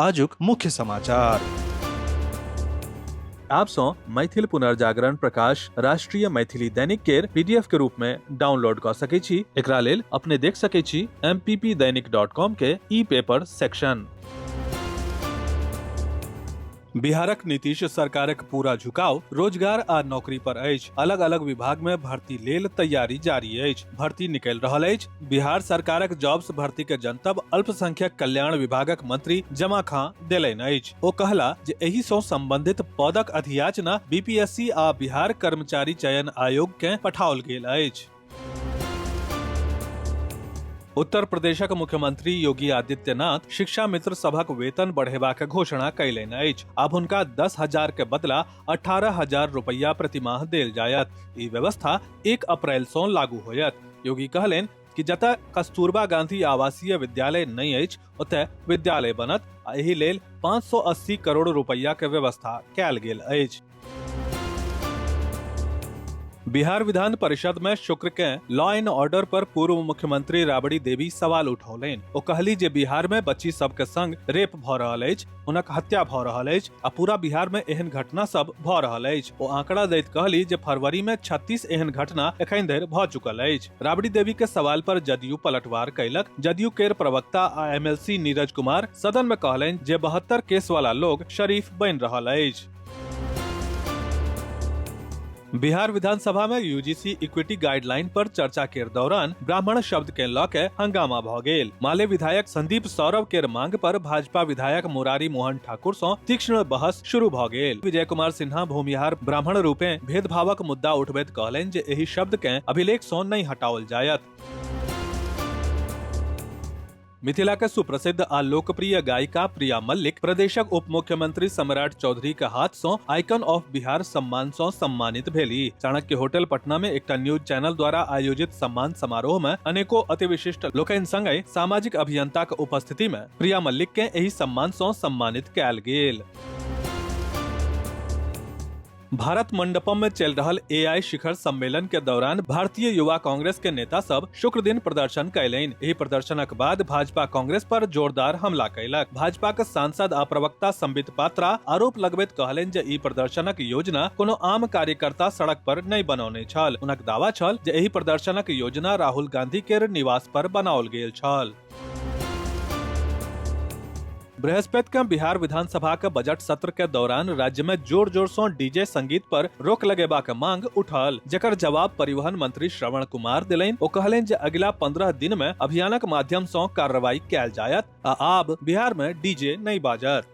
आजुक मुख्य समाचार आप सौ मैथिल पुनर्जागरण प्रकाश राष्ट्रीय मैथिली दैनिक केर पीडीएफ के रूप में डाउनलोड क सके छी एकरा लेल अपने देख सके छी mppdainik.com के ई पेपर सेक्शन बिहारक नीतीश सरकारक पूरा झुकाव रोजगार आ नौकरी पर अछि अलग अलग विभाग में भर्ती लेल तैयारी जारी अछि भर्ती निकलि रहल अछि बिहार सरकारक जॉब्स भर्ती के जनतब अल्पसंख्यक कल्याण विभागक मंत्री जमा खां देलनि अछि ओ कहला जे एहि सं संबंधित पदक अधियाचना बीपीएससी आ बिहार कर्मचारी चयन आयोग कें पठाओल गेल अछि उत्तर प्रदेशक मुख्यमंत्री योगी आदित्यनाथ शिक्षा मित्र सभक वेतन बढ़ेबाक घोषणा कयलनि अछि आब हुनका दस हजार के बदला अठारह हजार रुपया प्रति माह देल जायत ई व्यवस्था एक अप्रैल सौ लागू होयत योगी कहलेन कि जतय कस्तूरबा गांधी आवासीय विद्यालय नहीं अछि ओतय विद्यालय बनत आ एहि लेल 580 करोड़ रुपया के व्यवस्था कैल गेल अछि बिहार विधान परिषद में शुक्र के लॉ एंड ऑर्डर पर पूर्व मुख्यमंत्री राबड़ी देवी सवाल उठौलनि ओ कहली जे बिहार में बच्ची सब के संग रेप भ रहल अछि हुनक हत्या भऽ रहल अछि आ पूरा बिहार में एहन घटना सब भऽ रहल अछि ओ आंकड़ा दैत कहली जे फरवरी में 36 एहन घटना एखन धरि भऽ चुकल अछि राबड़ी देवी के सवाल पर जदयू पलटवार कयलक जदयू केर प्रवक्ता आ एमएलसी नीरज कुमार सदन में कहलनि जे बहत्तर केस वाला लोग शरीफ बनि रहल अछि बिहार विधानसभा में यूजीसी इक्विटी गाइडलाइन पर चर्चा के दौरान ब्राह्मण शब्द के लऽ के हंगामा भऽ गेल माले विधायक संदीप सौरभ के मांग पर भाजपा विधायक मुरारी मोहन ठाकुर सं तीक्ष्ण बहस शुरू भऽ गेल विजय कुमार सिन्हा भूमिहार ब्राह्मण रूपे भेदभावक मुद्दा उठबैत कहलनि जे एहि शब्द के अभिलेख सं नहि हटाओल जायत मिथिला के सुप्रसिद्ध आ लोकप्रिय गायिका प्रिया मल्लिक प्रदेशक उप मुख्यमंत्री सम्राट चौधरी के हाथ सं आइकन ऑफ बिहार सम्मान सं सम्मानित भेली चाणक्य होटल पटना में एकटा न्यूज चैनल द्वारा आयोजित सम्मान समारोह में अनेको अति विशिष्ट लोकनि संगे सामाजिक अभियंता के उपस्थिति में प्रिया मल्लिक के एहि सम्मान सं सम्मानित कयल गेल भारत मंडपम में चल रहल एआई शिखर सम्मेलन के दौरान भारतीय युवा कांग्रेस के नेता सब शुक्र दिन प्रदर्शन कैलनि एहि प्रदर्शनक बाद भाजपा कांग्रेस पर जोरदार हमला कैलक भाजपा के सांसद आ प्रवक्ता संबित पात्रा आरोप लगबैत कहलनि जे ई प्रदर्शनक योजना कोनो आम कार्यकर्ता सड़क पर नहि बनौने छल हुनक दावा छल जे एहि प्रदर्शनक योजना राहुल गांधी के निवास पर बनाओल गेल छल बृहस्पति के बिहार विधानसभा के बजट सत्र के दौरान राज्य में जोर जोर से डीजे संगीत पर रोक लगेबा के मांग उठल जकर जवाब परिवहन मंत्री श्रवण कुमार दिलेन ओ कहलेन जे अगिला पंद्रह दिन में अभियानक माध्यम से कार्रवाई कैल जायत आ आब बिहार में डीजे नहीं बाजत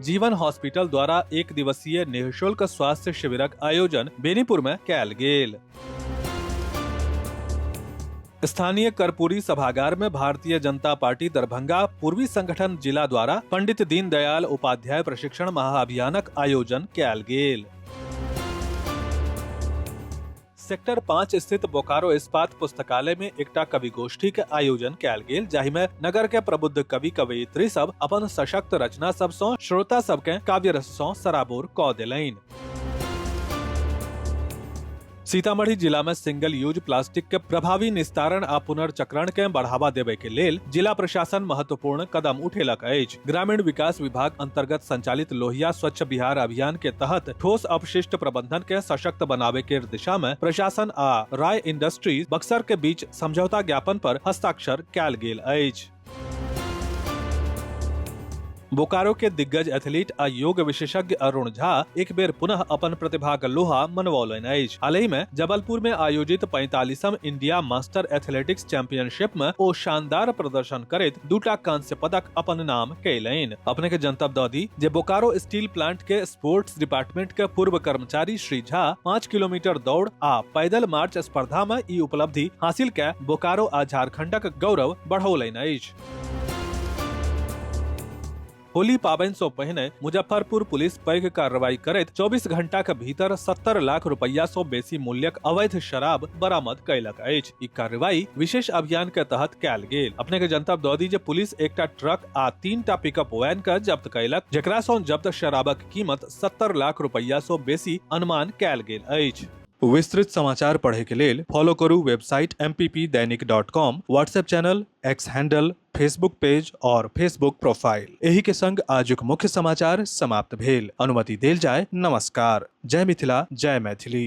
जीवन हॉस्पिटल द्वारा एक दिवसीय निःशुल्क स्वास्थ्य शिविरक आयोजन बेनीपुर में कैल गेल स्थानीय कर्पूरी सभागार में भारतीय जनता पार्टी दरभंगा पूर्वी संगठन जिला द्वारा पंडित दीनदयाल उपाध्याय प्रशिक्षण महाअभियानक आयोजन कैल गेल सेक्टर पाँच स्थित बोकारो इस्पात पुस्तकालय में एकटा कवि गोष्ठी के आयोजन कैल गेल जाहि में नगर के प्रबुद्ध कवि कवयित्री सब अपन सशक्त रचना सब सौ श्रोता सब के काव्य रस सौ सराबोर क दिलैन सीतामढ़ी जिला में सिंगल यूज प्लास्टिक के प्रभावी निस्तारण आ पुनर्चक्रण के बढ़ावा देवे के लेल जिला प्रशासन महत्वपूर्ण कदम उठेलक अछि ग्रामीण विकास विभाग अंतर्गत संचालित लोहिया स्वच्छ बिहार अभियान के तहत ठोस अपशिष्ट प्रबंधन के सशक्त बनावे के दिशा में प्रशासन आ राय इंडस्ट्रीज बक्सर के बीच समझौता ज्ञापन पर हस्ताक्षर कयल गेल अछि बोकारो के दिग्गज एथलीट आ योग विशेषज्ञ अरुण झा एक बेर पुनः अपन प्रतिभाक लोहा मनवौलनि अछि हालहि में जबलपुर में आयोजित 45 इंडिया मास्टर एथलेटिक्स चैंपियनशिप में ओ शानदार प्रदर्शन करैत दूटा कांस्य पदक अपन नाम कैलनि अपने के जनतब दऽ दी जे बोकारो स्टील प्लांट के स्पोर्ट्स डिपार्टमेंट के पूर्व कर्मचारी श्री झा पाँच किलोमीटर दौड़ आ पैदल मार्च स्पर्धा में ई उपलब्धि हासिल के बोकारो आ झारखंडक गौरव बढ़ौलनि अछि होली पाबनि सो पहिने मुजफ्फरपुर पुलिस पैघ कार्रवाई करैत 24 घंटा के भीतर 70 लाख रुपया सो बेसी मूल्यक अवैध शराब बरामद कयलक अछि ई कार्रवाई विशेष अभियान के तहत कयल गेल अपने के जनतब दऽ दी जे पुलिस एकटा ट्रक आ तीन टा पिकअप वैन के जब्त कयलक जेकरा सो जब्त शराबक कीमत 70 लाख रुपया सो बेसी अनुमान कयल गेल अछि विस्तृत समाचार पढ़े के लेल फॉलो करू website M Dainik dot com WhatsApp channel X handle Facebook page और फेसबुक प्रोफाइल एही के संग आजुक मुख्य समाचार समाप्त भेल अनुमति देल जाय नमस्कार जय मिथिला जय मैथिली